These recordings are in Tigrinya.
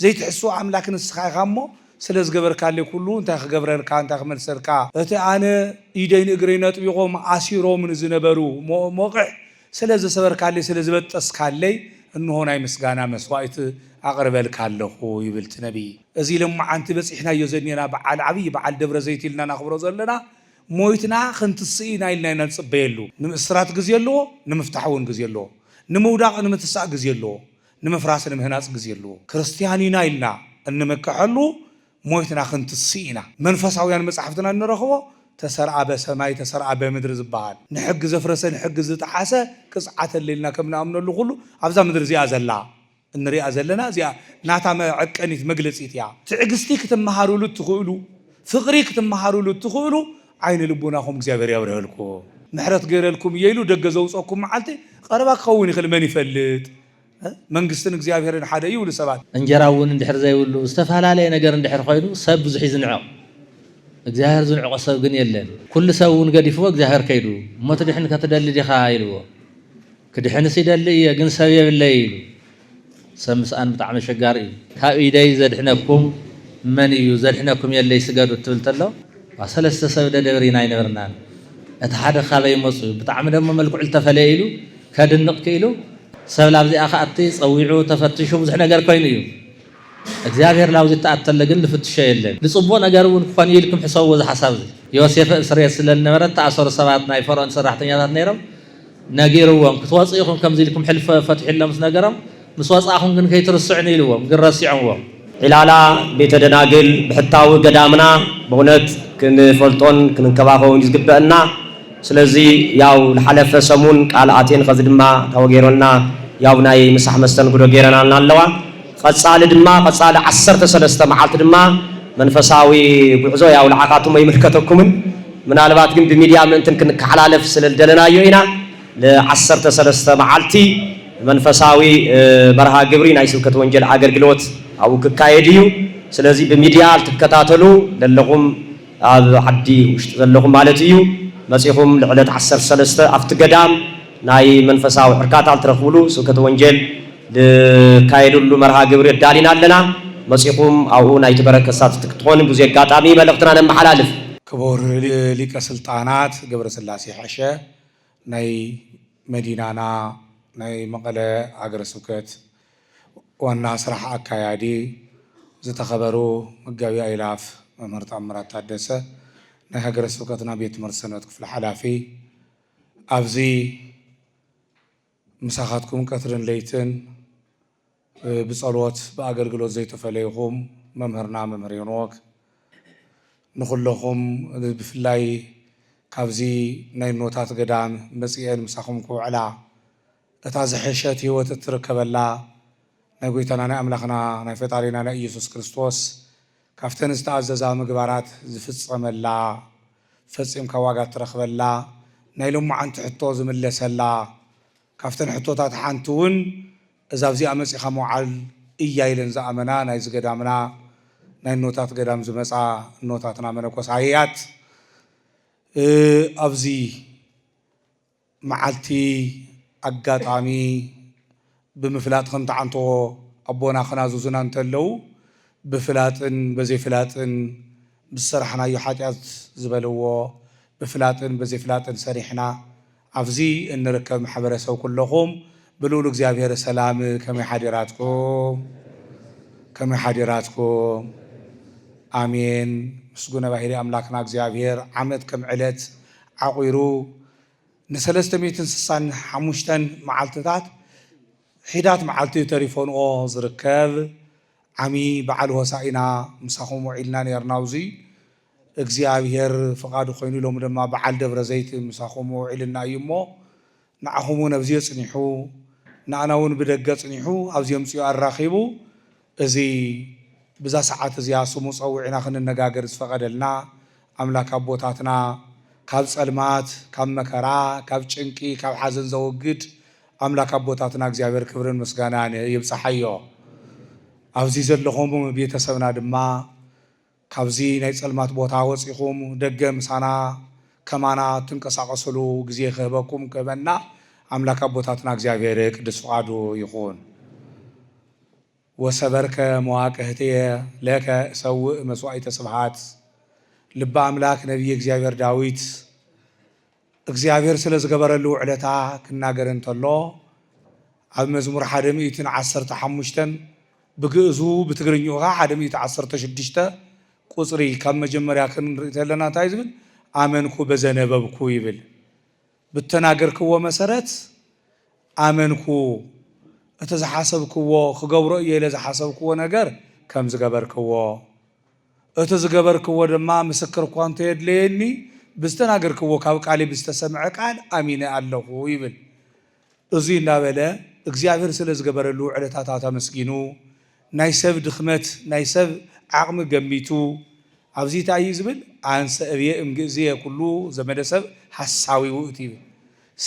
ዘይትሕስዎ ኣምላክ ንስካ ኢካ እሞ ስለ ዝገበርካለይ ኩሉ እንታይ ክገብረልካ እንታይ ክመልሰልካ እቲ ኣነ ኢደይ ንእግረይ ነጥቢቆም ኣሲሮምኒ ዝነበሩ ሞቅሕ ስለ ዘሰበርካለይ ስለ ዝበጠስካለይ እንሆ ናይ ምስጋና መስዋኢት ኣቅርበልካ ኣለኩ ይብል እቲ ነብይ እዚ ለማዓንቲ በጺሕናዮ ዘኔና በዓል ዓብይ በዓል ደብረ ዘይቲ ኢልና ነክብሮ ዘለና ሞይትና ክንትስእ ኢና ኢልና ኢና ንጽበየሉ ንምእስራት ግዜ ኣለዎ ንምፍታሕ ውን ግዜ ኣለዎ ንምውዳቅ ንምትሳእ ግዜ ኣለዎ ንምፍራስ ንምህናጽ ግዜ ኣሎዎ። ክርስትያን ኢና ኢልና እንምከሐሉ ሞይትና ክንትስእ ኢና። መንፈሳውያን መጻሕፍትና እንረኽቦ ተሰርኣ በሰማይ ተሰርኣ በምድሪ ዝበሃል ንሕጊ ዘፍረሰ ንሕጊ ዝጠሓሰ ቅጽዓት ኣለ ኢልና ከም ንኣምነሉ ኩሉ ኣብዛ ምድሪ እዚኣ ዘላ እንሪኣ ዘለና እዚኣ ናታ መዐቀኒት መግለጺት እያ። ትዕግስቲ ክትመሃሩሉ እትኽእሉ ፍቕሪ ክትመሃሩሉ እትኽእሉ ዓይነ ልቦናኹም እግዚኣብሔር ያብርሀልኩም ምሕረት ገይረልኩም እየ ኢሉ ደገ ዘውፀኩም መዓልቲ ቐረባ ክኸውን ይኽእል መን ይፈልጥ መንግስትን እግዚኣብሔርን ሓደ እዩ ይብሉ ሰባት። እንጀራ እውን እንድሕር ዘይብሉ ዝተፈላለየ ነገር እንድሕር ኾይኑ ሰብ ብዙሕ እዩ ዝንዕቕ እግዚኣብሔር ዝንዕቖ ሰብ ግን የለን ኩሉ ሰብ እውን ገዲፍዎ እግዚኣብሔር ከይዱ እሞ ትድሕን ከትደሊ ዲኻ ኢልዎ። ክድሕንስ ይደሊ እየ ግን ሰብ የብለይ ኢሉ ሰብ ምስኣን ብጣዕሚ ኣሸጋሪ እዩ። ካብ ኢደይ ዘድሕነኩም መን እዩ ዘድሕነኩም የለይ ስገዱ እትብል ተሎ እኳ ሰለስተ ሰብ ደደብሪና ኣይነበርናን እቲ ሓደ ካበይ መጹ ብጣዕሚ ደሞ መልክዑ ልተፈለየ ኢሉ ከድንቅ ክኢሉ ሰብ ላብዚኣ ክኣቲ ጸዊዑ ተፈትሹ ብዙሕ ነገር ኮይኑ እዩ እግዚኣብሔር ላብዚ እትኣተለ ግን ልፍትሾ የለን ልጽቡቅ ነገር እውን ክኮን እዩ ኢልኩም ሕሰብዎ እዚ ሓሳብ እዚ ዮሴፈ እብ ስርየት ስለ ልነበረ እተኣሰሩ ሰባት ናይ ፈርኦን ሰራሕተኛታት ነይሮም ነጊርዎም ክትወጹ ኢኹም ከምዚ ኢልኩም ሕልፍ ፈትሑ ኢሎም ምስ ነገሮም ምስ ወጻእኹም ግን ከይትርስዑኒ ኢልዎም ግን ረሲዖምዎም። ዒላላ ቤተ ደናግል ብሕታዊ ገዳምና በእውነት ክንፈልጦን ክንንከባኸቦን እዩ ዝግበእና ስለዚ ያው ልሓለፈ ሰሙን ቃል ኣቴን ኸዚ ድማ ታወገይሮልና ያው ናይ ምሳሕ መስተንግዶ ገይረናልና ኣለዋ። ቐጻሊ ድማ ቐጻሊ ዓሰርተ ሰለስተ መዓልቲ ድማ መንፈሳዊ ጉዕዞ ያውልዓካቱም ኣይምልከተኩምን ምናልባት ግን ብሚድያ ምእንትን ክንካሓላለፍ ስለልደለናዮ ኢና ን ዓሰርተ ሰለስተ መዓልቲ መንፈሳዊ መርሃ ግብሪ ናይ ስብከት ወንጀል ኣገልግሎት ኣብኡ ክካየድ እዩ ስለዚ ብሚድያ ልትከታተሉ ለለኹም ኣብ ዓዲ ውሽጢ ዘለኹም ማለት እዩ መጺኹም ልዕለት ዓሰርተ ሰለስተ ኣብቲ ገዳም ናይ መንፈሳዊ ዕርካታ ልትረኽብሉ ስብከተ ወንጀል ንካየደሉ መርሃ ግብሪ ኣዳሊና ኣለና። መጺኹም ኣብኡ ናይቲ በረድ ተሳተፍቲ ክትኾኑ ብዙ ኣጋጣሚ መልእኽትና ነመሓላልፍ። ክቡር ሊቀ ስልጣናት ገብረስላሴ ሐሸ ናይ መዲናና ናይ መቐለ ሃገረ ስብከት ዋና ስራሕ ኣካያዲ፣ ዝተኸበሩ መጋቢ ኣእላፍ መምህር ተኣምራት ታደሰ ናይ ሃገረ ስብከትና ቤት ትምህርቲ ሰንበት ክፍሊ ሓላፊ፣ ኣብዚ። ምሳኻትኩም ቀትርን ለይትን ብጸሎት ብኣገልግሎት ዘይተፈለይኹም መምህርና መምህር ሄኖክ ንኹለኹም ብፍላይ ካብዚ ናይ እኖታት ገዳም መጺኤን ምሳኹም ክውዕላ እታ ዝሐሸት ሕይወት እትርከበላ ናይ ጎይታና ናይ ኣምላኽና ናይ ፈጣሪና ናይ ኢየሱስ ክርስቶስ ካብተን ዝተኣዘዛ ምግባራት ዝፍፀመላ፣ ፈፂምካ ዋጋ ትረኽበላ፣ ናይ ሎማዓንቲ ሕቶ ዝምለሰላ፣ ካብተን ሕቶታት ሓንቲ እውን እዛ ኣብዚኣ መፂእኻ ምውዓል እያ ኢለን ዝኣመና ናይ እዚ ገዳምና ናይ እኖታት ገዳም ዝመፃ እኖታትና መነኮሳያት ኣብዚ መዓልቲ ኣጋጣሚ ብምፍላጥ ከምትዓንተዎ ኣቦና ክናዝዙና እንተለዉ ብፍላጥን በዘይፍላጥን ምስ ዝሰራሕናዮ ሓጢኣት ዝበልዎ ብፍላጥን በዘይፍላጥን ሰሪሕና ኣብዚ እንርከብ ማሕበረሰብ ኩለኹም ብልኡል እግዚኣብሔር ሰላም ከመይ ሓዲራትኩም ከመይ ሓዲራትኩም ኣሜን ምስጉነ ባህሪ ኣምላክና እግዚኣብሔር ዓመት ከም ዕለት ዓቑሩ ንሰለስተ ሚእትን ስሳን ሓሙሽተን መዓልትታት ሒዳት መዓልቲ ተሪፎንኦ ዝርከብ ዓሚ በዓል ሆሳኢና ምሳኹም ውዒልና ኔርና ኣብዙይ እግዚኣብሔር ፍቓዱ ኮይኑ ሎሚ ድማ በዓል ደብረ ዘይት ምሳኹም ውዒልና እዩ እሞ ንዓኹም እውን ኣብዚዮ ጽኒሑ ንኣና እውን ብደገ ጽኒሑ ኣብዚዮ ኣምጺኡ ኣራኺቡ እዚ ብዛ ሰዓት እዚኣ ስሙ ጸዊዕና ክንነጋገር ዝፈቐደልና ኣምላክ ኣቦታትና ካብ ጸልማት ካብ መከራ ካብ ጭንቂ ካብ ሓዘን ዘወግድ ኣምላክ ኣቦታትና እግዚኣብሔር ክብርን ምስጋናን ይብጻሓዮ ኣብዚ ዘለኹም ቤተሰብና ድማ ካብዚ ናይ ጸልማት ቦታ ወጺኹም ደገ ምሳና ከማና እትንቀሳቀስሉ ግዜ ክህበኩም ክህበና ኣምላክ ኣቦታትና እግዚኣብሔር ቅድስ ፍቃዱ ይኹን። ወሰበርከ መዋቅህትየ ለከ እሰውእ መስዋኢተ ስብሃት ልበ ኣምላክ ነብየ እግዚኣብሔር ዳዊት እግዚኣብሔር ስለ ዝገበረሉ ውዕለታ ክናገር እንተሎ ኣብ መዝሙር ሓደ ሚእትን ዓሰርተ ሓሙሽተን ብግእዙ ብትግርኝኡ ከኣ ሓደ ሚእቲ ዓሰርተ ሽዱሽተ ቁጽሪ ካብ መጀመርያ ክንርኢ ተለና እንታይ ዝብል ኣመንኩ በዘነበብኩ ይብል ብተናገርክዎ መሰረት ኣመንኩ እቲ ዝሓሰብክዎ ክገብሮ እየ ኢለ ዝሓሰብክዎ ነገር ከም ዝገበርክዎ እቲ ዝገበርክዎ ድማ ምስክር እኳ እንተየድለየኒ ብዝተናገርክዎ ካብ ቃልይ ብዝተሰምዐ ቃል ኣሚነ ኣለኹ ይብል። እዙይ እናበለ እግዚኣብሔር ስለ ዝገበረሉ ውዕለታታት ኣመስጊኑ ናይ ሰብ ድኽመት ናይ ሰብ ዓቕሚ ገሚቱ ኣብዙይ ታይ እዩ ዝብል ኣንሰ እብየ እምግእዝየ ኩሉ ዘመደ ሰብ ሓሳዊ ውእቱ ይብል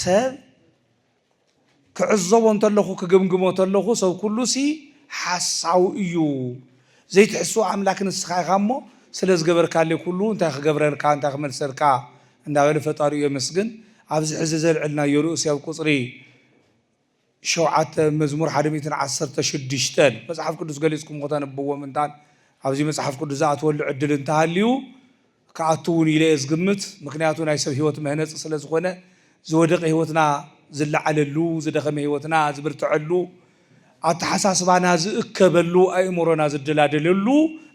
ሰብ ክዕዘቦ እንተለኹ ክግምግሞ ተለኹ ሰብ ኩሉሲ ሓሳዊ እዩ ዘይትሕስው ኣምላክ ንስኻ ኢኻ እሞ ስለ ዝገበርካለይ ኩሉ እንታይ ክገብረልካ እንታይ ክመልሰልካ እንዳበለ ፈጣሪኡ የመስግን ኣብዚ ሕዚ ዘልዕልናዮ ርእሲ ኣብ ቁጽሪ ሸውዓተ መዝሙር ሓደ ሚእትን ዓሰርተ ሽዱሽተን መጽሓፍ ቅዱስ ገሊጽኩም ከተንብብዎ ምእንታን ኣብዚ መጽሓፍ ቅዱስ ዝኣትወሉ ዕድል እንተሃልዩ ክኣቱ እውን ኢለ እየ ዝግምት ምክንያቱ ናይ ሰብ ህይወት መህነፂ ስለ ዝኾነ ዝወደቀ ህይወትና ዝለዓለሉ ዝደኸመ ህይወትና ዝብርተዐሉ ኣተሓሳስባና ዝእከበሉ ኣእምሮና ዝደላደለሉ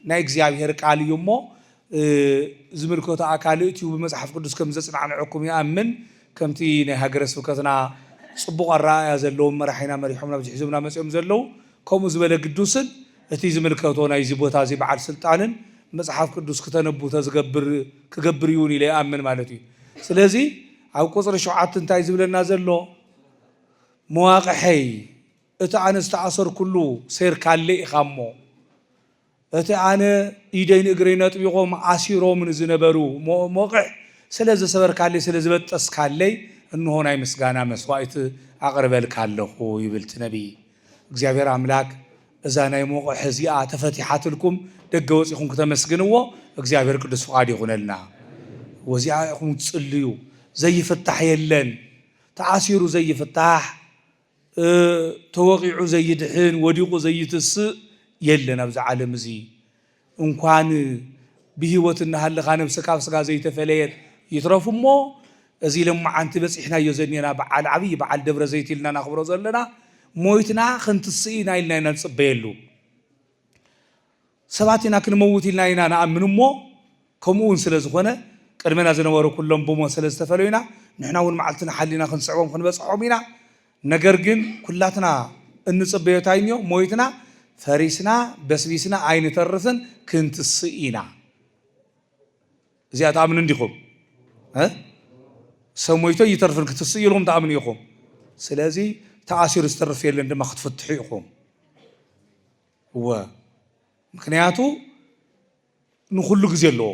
ናይ እግዚኣብሔር ቃል እዩ እሞ ዝምልከቶ ኣካል እእትዩ ብመፅሓፍ ቅዱስ ከም ዘፅናዕንዐኩም ይኣምን ከምቲ ናይ ሃገረ ስብከትና ፅቡቅ ኣረኣእያ ዘለዎም መራሒና መሪሖም ናብዚ ሒዞምና መፂኦም ዘለው ከምኡ ዝበለ ግዱስን እቲ ዝምልከቶ ናይዚ ቦታ እዚ በዓል ስልጣንን መጽሓፍ ቅዱስ ክተነቡ ተዝገብር ክገብር ይውን ኢለ ይኣምን ማለት እዩ ስለዚ ኣብ ቁጽሪ ሸውዓት እንታይ ዝብለና ዘሎ መዋቅሐይ እቲ ኣነ ዝተኣሰርኩሉ ሴርካሌ ኢኻ እሞ እቲ ኣነ ኢደይ ንእግረይ ነጥቢቆም ኣሲሮምኒ ዝነበሩ መወቅሕ ስለ ዘሰበርካለይ ስለ ዝበጠስካለይ እንሆ ናይ ምስጋና መስዋእቲ ኣቅርበልካ ኣለኹ ይብል እቲ ነቢይ እግዚኣብሔር ኣምላክ እዛ ናይ ሞቕሕ እዚኣ ተፈቲሓትልኩም ደገ ወጺኹም ክተመስግንዎ እግዚኣብሔር ቅዱስ ፍቃድ ይኹነልና ወዚኣ ኢኹም ትጽልዩ ዘይፍታሕ የለን ተኣሲሩ ዘይፍታሕ ተወቒዑ ዘይድሕን ወዲቑ ዘይትስእ የለን ኣብዚ ዓለም እዚ እንኳን ብሂወት እናሃለኻ ነብሲ ካብ ስጋ ዘይተፈለየት ይትረፍ እሞ እዚ ሎማዓንቲ በፂሕናዮ ዘኒና በዓል ዓብይ በዓል ደብረ ዘይቲ ኢልና ናኽብሮ ዘለና ሞይትና ክንትስእ ኢና ኢልና ኢና ንፅበየሉ ሰባት ኢና ክንመውት ኢልና ኢና ንኣምን እሞ ከምኡ እውን ስለ ዝኾነ ቅድመና ዝነበሩ ኩሎም ብሞት ስለ ዝተፈለዩና ንሕና እውን መዓልትና ሓሊና ክንስዕቦም ክንበፅሖም ኢና ነገር ግን ኩላትና እንጽበዮ እንታይ እዮ ሞይትና ፈሪስና በስቢስና ኣይንተርፍን ክንትስእ ኢና እዚኣ ትኣምኑ እንዲኹም እ ሰብ ሞይቶ ኣይተርፍን ክትስእ ኢልኩም ትኣምኑ ኢኹም ስለዚ ተኣሲሩ ዝተርፍ የለን ድማ ክትፍትሑ ኢኹም እወ ምክንያቱ ንኹሉ ግዜ ኣለዎ።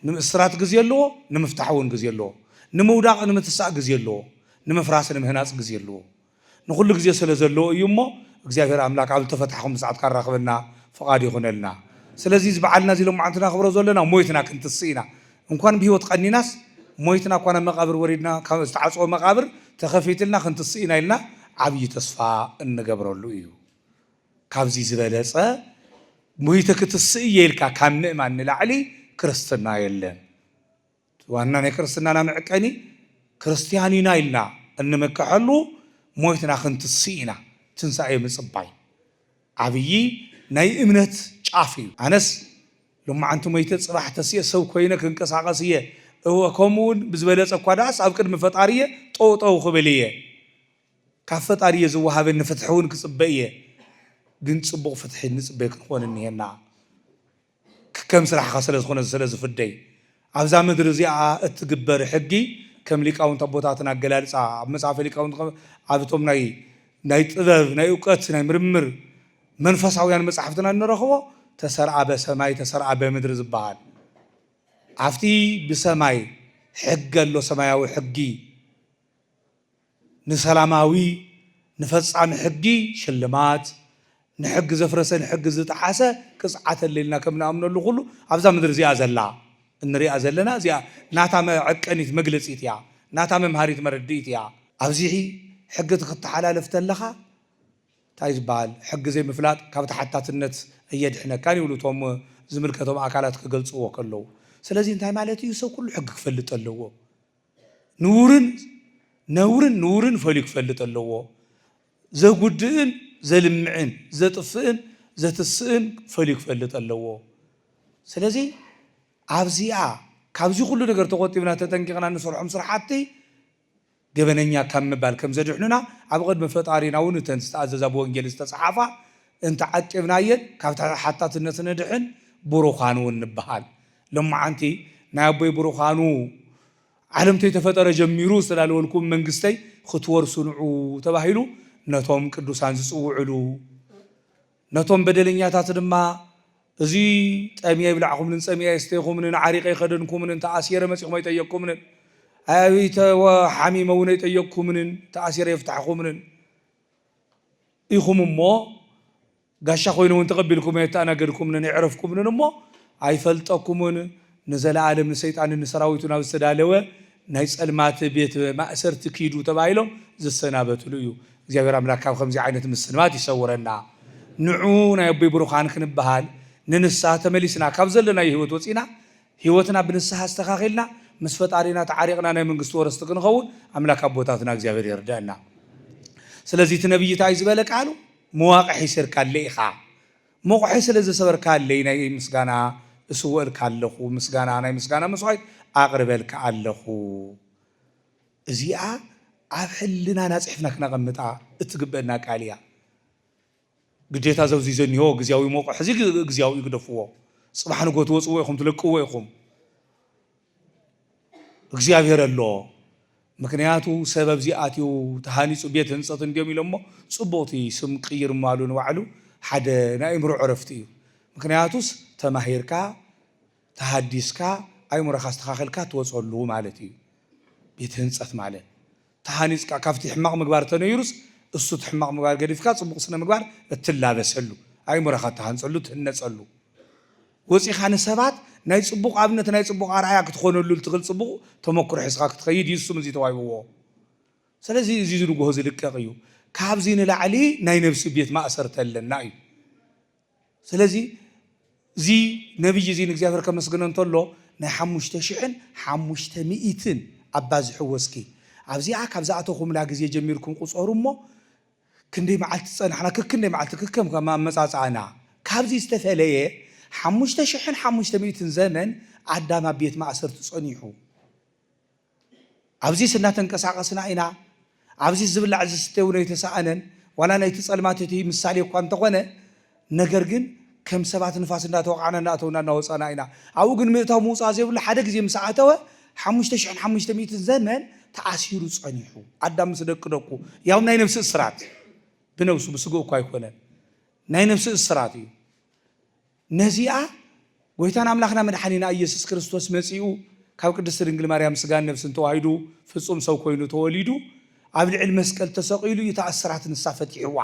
ንምእስራት ግዜ ኣለዎ፣ ንምፍታሕ እውን ግዜ ኣለዎ። ንምውዳቕ ንምትሳእ ግዜ ኣለዎ፣ ንምፍራስ ንምህናፅ ግዜ ኣለዎ። ንኹሉ ግዜ ስለ ዘለዎ እዩ እሞ እግዚኣብሔር ኣምላክ ኣብ ዝተፈታሕኹም ሰዓት ካራኽበና ፍቓዱ ይኹነልና። ስለዚ እዚ በዓልና እዚ ሎማዓንቲ ናኽብሮ ዘለና ሞይትና ክንትስእ ኢና። እንኳን ብህይወት ቀኒናስ ሞይትና እኳ ናብ መቓብር ወሪድና ካብ ዝተዓፀወ መቓብር ተኸፊትልና ክንትስእ ኢና ኢልና ዓብዪ ተስፋ እንገብረሉ እዩ። ካብዚ ዝበለጸ ሞይተ ክትስእ እየ ኢልካ ካብ ምእማን ንላዕሊ ክርስትና የለን። ዋና ናይ ክርስትናና መዕቀኒ ክርስትያን ኢና ኢልና እንምከሐሉ ሞይትና ክንትስእ ኢና ትንሳኤ ምጽባይ ዓብዪ ናይ እምነት ጫፍ እዩ። ኣነስ ሎማዓንቲ ሞይተ ጽባሕ ተሲኤ ሰብ ኮይነ ክንቀሳቐስ እየ እወ ከምኡ እውን ብዝበለጸ እኳ ደኣስ ኣብ ቅድሚ ፈጣሪየ ጠውጠው ክብል እየ። ካብ ፈጣሪ እየ ዝወሃበኒ ፍትሒ እውን ክፅበ እየ ግን ፅቡቅ ፍትሒ እንፅበ ክንኾን እኒሀና ክከም ስራሕኻ ስለዝኾነ ስለዝፍደይ ኣብዛ ምድሪ እዚኣ እትግበር ሕጊ ከም ሊቃውንት ኣቦታትና ኣገላልፃ ኣብ መፅሃፈ ሊቃውንት ኣብ እቶም ናይ ናይ ጥበብ ናይ እውቀት ናይ ምርምር መንፈሳውያን መፃሕፍትና እንረኽቦ ተሰርኣ በሰማይ ተሰርኣ በምድሪ ዝበሃል ኣብቲ ብሰማይ ሕጊ ኣሎ ሰማያዊ ሕጊ ንሰላማዊ ንፈጻሚ ሕጊ ሽልማት፣ ንሕጊ ዘፍረሰ ንሕጊ ዝጠሓሰ ቅጽዓት ኣለልና ከም ንኣምነሉ ኩሉ ኣብዛ ምድሪ እዚኣ ዘላ እንሪኣ ዘለና እዚኣ ናታ መዐቀኒት መግለጺት እያ ናታ መምሃሪት መረድኢት እያ። ኣብዚሒ ሕጊ ትክተሓላልፍ ተለካ ታይ ዝበሃል ሕጊ ዘይምፍላጥ ካብ ተሓታትነት ኣየድሕነካን ይብሉ እቶም ዝምልከቶም ኣካላት ክገልጽዎ ከለዉ ስለዚ እንታይ ማለት እዩ ሰብ ኩሉ ሕጊ ክፈልጥ ኣለዎ። ንውርን ነውርን ንውርን ፈልዩ ክፈልጥ ኣለዎ። ዘጉድእን ዘልምዕን ዘጥፍእን ዘትስእን ፈልዩ ክፈልጥ ኣለዎ። ስለዚ ኣብዚኣ ካብዚ ኩሉ ነገር ተቆጢብና ተጠንቂቕና ንሰርሖም ስራሕቲ ገበነኛ ካብ ምባል ከም ዘድሕኑና ኣብ ቅድሚ ፈጣሪና እውን እተን ዝተኣዘዛ ብወንጌል ዝተፅሓፋ እንተዓቂብናየን ካብ ሓታትነት ንድሕን ብሩኻን እውን ንበሃል። ሎማዓንቲ ናይ ኣቦይ ብሩካኑ ዓለም ተይተፈጠረ ጀሚሩ ዝተዳለወልኩም መንግስተይ ኽትወርሱ ንዑ ተባሂሉ ነቶም ቅዱሳን ዝፅውዕሉ ነቶም በደለኛታት ድማ እዚ ጠምየ የብላዕኹምንን ፀሚኣ የስተይኹምንን ዓሪቀ ኣይኸደንኩምንን ተኣሲረ መፂኹም ኣይጠየቅኩምንን ኣይ ሓሚመ እውን ኣይጠየቅኩምንን ተኣሲረ የፍታሕኹምንን ኢኹም እሞ ጋሻ ኮይኑ እውን ተቐቢልኩም ኣየተኣናገድኩምንን ኣየዕረፍኩምንን እሞ ኣይፈልጠኩምን ንዘለኣለም ንሰይጣንን ንሰራዊቱን ኣብ ዝተዳለወ ናይ ጸልማት ቤት ማእሰርቲ ኪዱ ተባሂሎም ዝሰናበትሉ እዩ እግዚኣብሔር ኣምላክ ካብ ከምዚ ዓይነት ምስንባት ይሰውረና ንዑ ናይ ኣቦይ ብሩካን ክንበሃል ንንስሃ ተመሊስና ካብ ዘለናዮ ህይወት ወጺና ህይወትና ብንስሃ ኣስተካኪልና ምስ ፈጣሪና ተዓሪቅና ናይ መንግስቲ ወረስቲ ክንኸውን ኣምላክ ኣቦታትና እግዚኣብሔር የርደእና ስለዚ እቲ ነብይ ታይ ዝበለ ቃሉ ምዋቕ ሒሲርካለይ ኢኻ ሞቑሐይ ስለ ዘሰበርካለይ ናይ ምስጋና እስውእልካ ኣለኹ ምስጋና ናይ ምስጋና መስዋኢት ኣቕርበልካ ኣለኹ እዚኣ ኣብ ሕልናና ጽሕፍና ክነቐምጣ እትግበእና ቃል እያ ግዴታ ዘብዚ ዘኒሆ ግዝያዊ ሞቑሕ እዚ ግዝያዊ እዩ ግደፍዎ ጽባሕ ንጎት ወጽዎ ኢኹም ትለቅዎ ኢኹም እግዚኣብሔር ኣሎ ምክንያቱ ሰብ ኣብዚ ኣትዩ ተሃኒፁ ቤት ህንፀት እንዲዮም ኢሎሞ ፅቡቅ እቲ ስም ቅይር ምባሉ ንባዕሉ ሓደ ናይ ኣእምሮ ዕረፍቲ እዩ ምክንያቱስ ተማሂርካ ተሃዲስካ ኣእምሮካ ኣስተካክልካ ትወፀሉ ማለት እዩ ቤት ህንፀት ማለት ተሃኒጽካ ካብቲ ሕማቕ ምግባር ተነይሩስ እሱ እቲ ሕማቕ ምግባር ገዲፍካ ጽቡቕ ስነ ምግባር እትላበሰሉ ኣእምሮኻ እትሃንጸሉ እትህነጸሉ ወጺኻ ንሰባት ናይ ጽቡቕ ኣብነት ናይ ጽቡቕ ኣርኣያ ክትኾነሉ እትኽል ጽቡቕ ተመክሮ ሒዝኻ ክትኸይድ እዩ እሱም እዚ ተዋሂብዎ ሰለዚ እዚ እዚ ንግሆ ዝልቀቕ እዩ ካብዚ ንላዕሊ ናይ ነብሲ ቤት ማእሰርቲ ኣለና እዩ። ስለዚ እዚ ነብዪ እዚ ንእግዚኣብሔር ከመስግኖ እንተሎ ናይ ሓሙሽተ ሽሕን ሓሙሽተ ሚኢትን ኣባዝሕዎ እስኪ ኣብዚኣ ካብ ዝኣተኹምላ ግዜ ጀሚርኩም ቁጸሩ እሞ ክንደይ መዓልቲ ዝጸናሕና ከክንደይ መዓልቲ ከከም ከም ኣመጻጽኣና ካብዚ ዝተፈለየ ሓሙሽተ ሽሕን ሓሙሽተ ሚኢትን ዘመን ኣዳም ኣብ ቤት ማእሰርቲ ጸኒሑ ኣብዚስ እናተንቀሳቐስና ኢና፣ ኣብዚስ ዝብላዕ ዝስተ እውን ኣይተሳእነን፣ ዋላ ናይቲ ጸልማት እቲ ምሳሌ እኳ እንተኾነ፣ ነገር ግን ከም ሰባት ንፋስ እናተወቓዕና እናኣተውና እናወጻእና ኢና። ኣብኡ ግን ምእታው ምውጻእ ዘይብሉ ሓደ ግዜ ምስ ኣተወ ሓሙሽተ ሽሕን ሓሙሽተ ሚእትን ዘመን ተኣሲሩ ጸኒሑ። ኣዳም ምስ ደቂ ደቁ ያውም ናይ ነብሲ እስራት ብነብሱ ብስግኡ እኳ ኣይኮነን ናይ ነብሲ እስራት እዩ። ነዚኣ ጎይታን ኣምላኽና መድሓኒና እየሱስ ክርስቶስ መጺኡ ካብ ቅድስቲ ድንግል ማርያም ስጋን ነፍስን ተዋሂዱ ፍጹም ሰብ ኮይኑ ተወሊዱ ኣብ ልዕል መስቀል ተሰቂሉ እዩ እታ እስራት ንሳ ፈቲሕዋ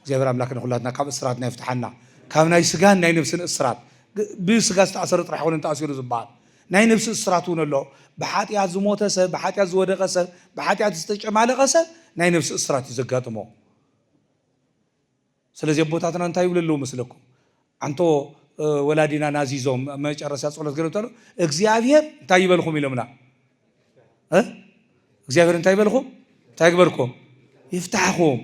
እግዚኣብሔር ኣምላክ ንኩላትና ካብ እስራትና ይፍትሓና ካብ ናይ ስጋን ናይ ነፍስን እስራት ብስጋ ዝተኣሰረ ጥራሕ ኣይኮነን ተኣሲሩ ዝበሃል ናይ ነፍሲ እስራት እውን ኣሎ ብሓጢኣት ዝሞተ ሰብ ብሓጢኣት ዝወደቀ ሰብ ብሓጢኣት ዝተጨማለቀ ሰብ ናይ ነፍሲ እስራት እዩ ዘጋጥሞ ስለዚ ኣቦታትና እንታይ ይብሉ ኣለዉ መስለኩም ኣንቶ ወላዲና ናዚዞም መጨረስያ ጸሎት ገለ ተሎ እግዚኣብሔር እንታይ ይበልኩም ኢሎምና እግዚኣብሔር እንታይ ይበልኩም እንታይ ግበርኩም ይፍታሕኹም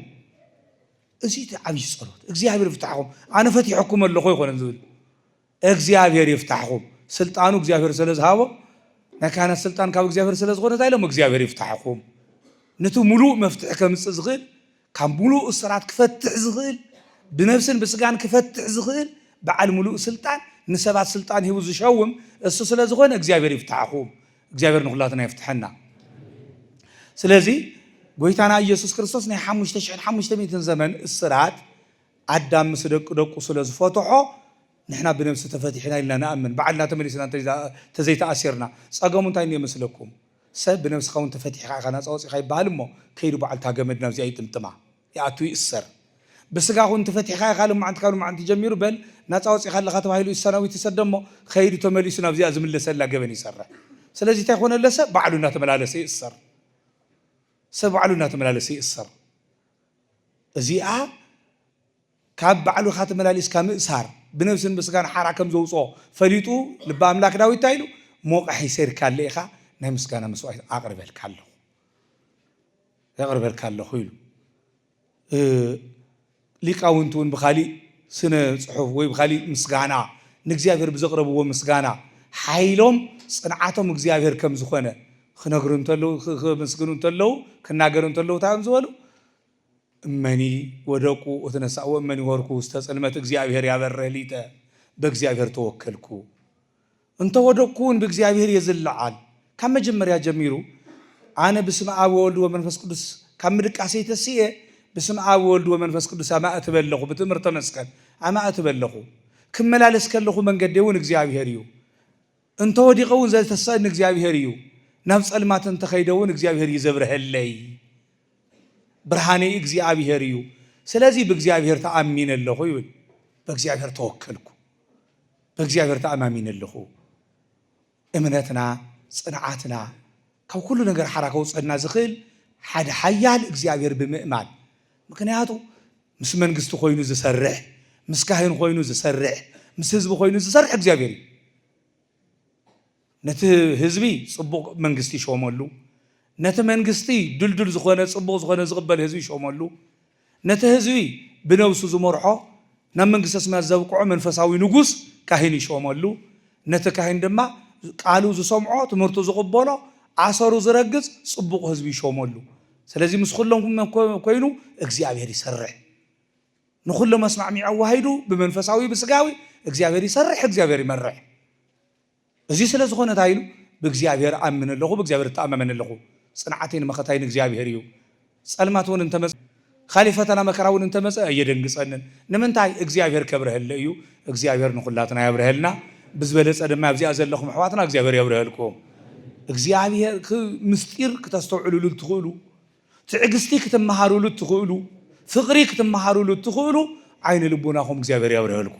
እዚ እቲ ዓብዪ ጸሎት እግዚኣብሔር ይፍታሕኹም ኣነ ፈቲሐኩም ኣለኹ ይኮነ ዝብል እግዚኣብሔር ይፍታሕኹም ስልጣኑ እግዚኣብሔር ሰለ ዝሃቦ ናይ ካህናት ስልጣን ካብ እግዚኣብሔር ስለ ዝኾነ እንታይ ኢሎም እግዚኣብሔር ይፍታሕኹም ንቲ ሙሉእ መፍትሒ ከምፅእ ዝኽእል ካብ ሙሉእ እስራት ክፈትሕ ዝኽእል ብነብስን ብስጋን ክፈትሕ ዝኽእል በዓል ሙሉእ ስልጣን ንሰባት ስልጣን ሂቡ ዝሸውም እሱ ስለ ዝኾነ እግዚኣብሔር ይፍታሕኹም እግዚኣብሔር ንኹላትና ይፍትሐና ስለዚ ጎይታና ኢየሱስ ክርስቶስ ናይ ሓሙሽተ ሽሕን ሓሙሽተ ሚእትን ዘመን እስራት ኣዳም ምስ ደቂ ደቁ ስለ ዝፈትሖ ንሕና ብነብሲ ተፈቲሕና ኢልና ንኣምን ባዕልና ተመሊስና እንተዘይተኣሲርና ጸገሙ እንታይ እንኤ መስለኩም ሰብ ብነብስኻ ውን ተፈቲሕኻ ኢኻ ናጻ ወጺኻ ይበሃል እሞ ከይዱ ባዕሉ እታ ገመድ ናብዚኣ ይጥምጥማ ይኣቱ ይእሰር ብስጋኹ ውን ተፈቲሕኻ ኢኻ ልማዓንቲ ካብ ልማዓንቲ ጀሚሩ በል ናጻ ወጺኻ ኣለኻ ተባሂሉ እሰናዊት ይሰደ እሞ ከይዱ ተመሊሱ ናብዚኣ ዝምለሰላ ገበን ይሰርሕ ስለዚ እንታይ ኮነ ለሰ ባዕሉ እናተመላለሰ ይእሰር ሰብ ባዕሉ እናተመላለሰ ይእሰር። እዚኣ ካብ ባዕልኻ ተመላሊስካ ምእሳር ብነብስን ብስጋን ሓራ ከም ዘውጽኦ ፈሊጡ ልበ ኣምላክ ዳዊት እንታይ ኢሉ ሞቓሒ ሰይርካለ ኢኻ ናይ ምስጋና መስዋዕት ኣቕርበልካ ኣለኹ የቕርበልካ ኣለኹ ኢሉ ሊቃውንቲ እውን ብካሊእ ስነ ፅሑፍ ወይ ብካሊእ ምስጋና ንእግዚኣብሔር ብዘቕረብዎ ምስጋና ሓይሎም ፅንዓቶም እግዚኣብሔር ከም ዝኾነ ክነግሩ እንተለዉ ክምስግኑ እንተለዉ ክናገሩ እንተለዉ እንታይ እዮም ዝበሉ? እመኒ ወደቁ ወተነሳእ ወእመኒ ወርኩ ውስተ ጽልመት እግዚኣብሔር ያበርህ ሊተ በእግዚኣብሔር ተወከልኩ እንተ ወደቅኩ እውን ብእግዚኣብሔር የዝለዓል ካብ መጀመርያ ጀሚሩ ኣነ ብስመ ኣብ ወወልድ ወመንፈስ ቅዱስ ካብ ምድቃሰይ ተስኤ ብስመ ኣብ ወወልድ ወመንፈስ ቅዱስ ኣማእትበ ኣለኹ ብትእምርተ መስቀል ኣማእትበ ኣለኹ ክመላለስ ከለኹ መንገዲ እውን እግዚኣብሔር እዩ እንተ ወዲቐ እውን ዘተስኣኒ እግዚኣብሄር እዩ፣ ናብ ጸልማት እንተ ኸይደ እውን እግዚኣብሄር እዩ ዘብርሀለይ። ብርሃነይ እግዚኣብሄር እዩ፣ ስለዚ ብእግዚኣብሄር ተኣሚነ ኣለኹ ይብል። በእግዚኣብሄር ተወከልኩ፣ በእግዚኣብሄር ተኣማሚነ ኣለኹ። እምነትና፣ ጽንዓትና፣ ካብ ኩሉ ነገር ሓራ ከውጸና ዝኽእል ሓደ ሓያል እግዚኣብሄር ብምእማን ምክንያቱ ምስ መንግስቲ ኮይኑ ዝሰርሕ ምስ ካህን ኮይኑ ዝሰርሕ ምስ ህዝቢ ኮይኑ ዝሰርሕ እግዚኣብሔር እዩ። ነቲ ህዝቢ ጽቡቕ መንግስቲ ይሾመሉ፣ ነቲ መንግስቲ ድልዱል ዝኾነ ጽቡቕ ዝኾነ ዝቕበል ህዝቢ ይሾመሉ፣ ነቲ ህዝቢ ብነብሱ ዝመርሖ ናብ መንግስተ ሰማያት ዘብቅዖ መንፈሳዊ ንጉስ ካህን ይሾመሉ፣ ነቲ ካህን ድማ ቃሉ ዝሰምዖ ትምህርቱ ዝቕበሎ ኣሰሩ ዝረግጽ ጽቡቕ ህዝቢ ይሾመሉ። ስለዚ ምስ ዅሎም ኰይኑ እግዚኣብሔር ይሰርሕ። ንዅሎም ኣስማዕሚዑ ኣዋሃሂዱ ብመንፈሳዊ ብስጋዊ እግዚኣብሔር ይሰርሕ፣ እግዚኣብሔር ይመርሕ። እዚ ስለ ዝዀነ እንታይ ኢሉ? ብእግዚኣብሔር እኣምን ኣለኹ፣ ብእግዚኣብሔር እተኣማመን ኣለኹ። ጽንዓተይን መኸታይን እግዚኣብሔር እዩ። ጸልማት እውን እንተ መጸ፣ ኻሊእ ፈተና መከራ እውን እንተ መጸ ኣየደንግጸንን። ንምንታይ? እግዚኣብሔር ከብርሀለይ እዩ። እግዚኣብሔር ንዅላትና የብርሀልና። ብዝበለጸ ድማ ኣብዚኣ ዘለኹም ኣሕዋትና እግዚኣብሔር የብርሀልኩም። እግዚኣብሔር ክ ምስጢር ክተስተውዕሉሉ እትኽእሉ፣ ትዕግስቲ ክትመሃሩሉ እትኽእሉ፣ ፍቕሪ ክትመሃሩሉ እትኽእሉ ዓይነ ልቦናኹም እግዚኣብሔር ያብርሀልኩ።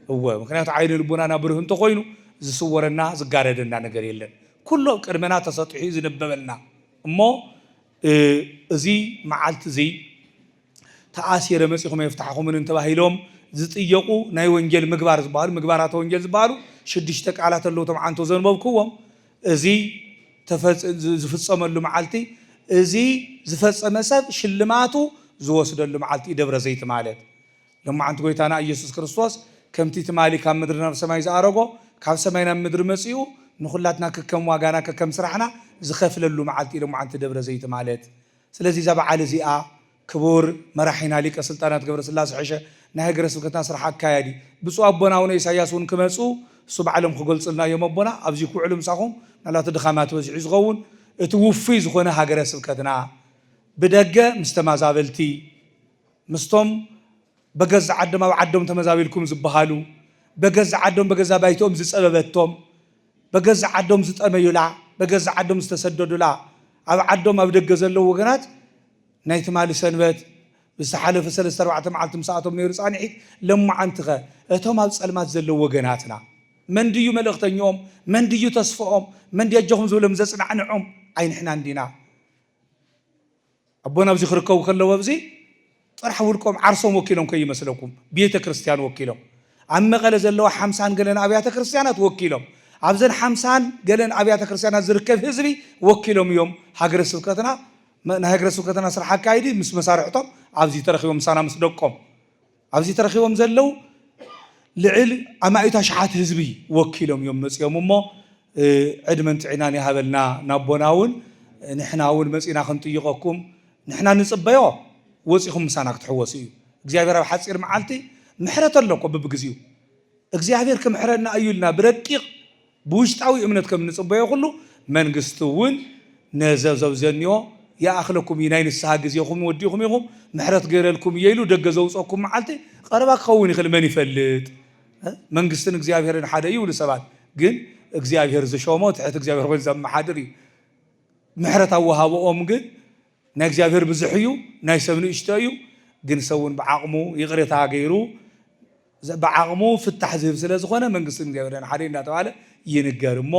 እወ ምክንያቱ ዓይነ ልቦናና ብሩህ እንተኾይኑ ዝስወረና ዝጋረደና ነገር የለን። ኩሉ ኣብ ቅድመና ተሰጢሑ ዝነበበልና እሞ እዚ መዓልቲ እዙይ ተኣሲረ መጺኹም ኣየፍታሕኹምንን ተባሂሎም ዝጥየቁ ናይ ወንጌል ምግባር ዝበሃሉ ምግባራተ ወንጌል ዝበሃሉ ሽዱሽተ ቃላት ኣለዉ እቶም ዓንቶ ዘንበብክዎም እዚ ዝፍጸመሉ መዓልቲ እዚ ዝፈጸመ ሰብ ሽልማቱ ዝወስደሉ መዓልቲ እዩ ደብረ ዘይቲ ማለት ሎማዓንቲ ጎይታና እየሱስ ክርስቶስ ከምቲ ትማሊ ካብ ምድሪ ናብ ሰማይ ዝኣረጎ ካብ ሰማይ ናብ ምድሪ መጺኡ ንኹላትና ከከም ዋጋና ከከም ስራሕና ዝኸፍለሉ መዓልቲ እዩ ሎማዓንቲ ደብረ ዘይቲ ማለት ስለዚ እዛ በዓል እዚኣ ክቡር መራሒና ሊቀ ስልጣናት ገብረስላሰ ሐሸ ናይ ሀገረ ስብከትና ስራሕ ኣካያዲ ብፁእ ኣቦና ኣውነ ኢሳያስ እውን ክመፁ እሱ ባዕሎም ክገልፁልና እዮም ኣቦና ኣብዚ ክውዕሉ ምሳኹም ምናልባት ድኻማት በዚሑ እዩ ዝኸውን እቲ ውፉይ ዝኾነ ሀገረ ስብከትና ብደገ ምስ ተማዛበልቲ ምስቶም በገዛ ዓዶም ኣብ ዓዶም ተመዛቢልኩም ዝበሃሉ፣ በገዛ ዓዶም በገዛ ባይትኦም ዝጸበበቶም፣ በገዛ ዓዶም ዝጠመዩላ፣ በገዛ ዓዶም ዝተሰደዱላ፣ ኣብ ዓዶም ኣብ ደገ ዘለዉ ወገናት ናይ ትማሊ ሰንበት ምስ ዝሓለፈ ሰለስተ ኣርባዕተ መዓልቲ ምስኣቶም ነይሩ ጻንሒት ለማዓንቲኸ እቶም ኣብ ጸልማት ዘለዉ ወገናትና መን ድዩ መልእኽተኞኦም መን ድዩ ተስፎኦም መን ድዩ ኣጆኹም ዝብሎም ዘጽናዕንዖም ኣይንሕና እንዲና ኣቦና ኣብዚ ክርከቡ ከለዉ ኣብዚ ጥራሕ ውልቆም ዓርሶም ወኪሎም ከይመስለኩም ቤተ ክርስቲያን ወኪሎም ኣብ መቐለ ዘለዋ ሓምሳን ገለን ኣብያተ ክርስቲያናት ወኪሎም ኣብዘን ሓምሳን ገለን ኣብያተ ክርስቲያናት ዝርከብ ህዝቢ ወኪሎም እዮም ሃገረ ስብከትና ናይ ሃገረ ስብከትና ስራሕ ኣካይዲ ምስ መሳርሕቶም ኣብዚ ተረኪቦም ምሳና ምስ ደቆም ኣብዚ ተረኺቦም ዘለዉ ልዕል ኣማኢት ኣሽሓት ህዝቢ ወኪሎም እዮም መጺኦም እሞ ዕድመን ጥዒናን ይሃበልና ናቦና እውን ንሕና እውን መጺና ክንጥይቐኩም ንሕና ንጽበዮ ወጺኹም ምሳና ክትሕወሱ እዩ እግዚኣብሔር ኣብ ሓጺር መዓልቲ ምሕረት ኣሎ እኮ ብብግዚኡ እግዚኣብሔር ክምሕረና እዩ ኢልና ብረቂቕ ብውሽጣዊ እምነት ከም እንጽበዮ ኩሉ መንግስቲ እውን ነዘ ዘብዘንዮ ይኣክለኩም እዩ ናይ ንስሃ ግዜኹም ወዲእኹም ኢኹም ምሕረት ገይረልኩም እየ ኢሉ ደገ ዘውጸኩም መዓልቲ ቀረባ ክኸውን ይኽእል መን ይፈልጥ መንግስትን እግዚኣብሔርን ሓደ እዩ ይብሉ ሰባት ግን እግዚኣብሔር ዝሾሞ ትሕት እግዚኣብሔር ኮይኑ ዘመሓድር እዩ ምሕረት ኣወሃብኦም ግን ናይ እግዚኣብሔር ብዙሕ እዩ ናይ ሰብ ንእሽቶ እዩ ግን ሰውን ብዓቕሙ ይቕሬታ ገይሩ ብዓቕሙ ፍታሕ ዝህብ ስለዝኾነ መንግስቲ እግዚኣብሔር ደን ሓደይ እንዳተባህለ ይንገር እሞ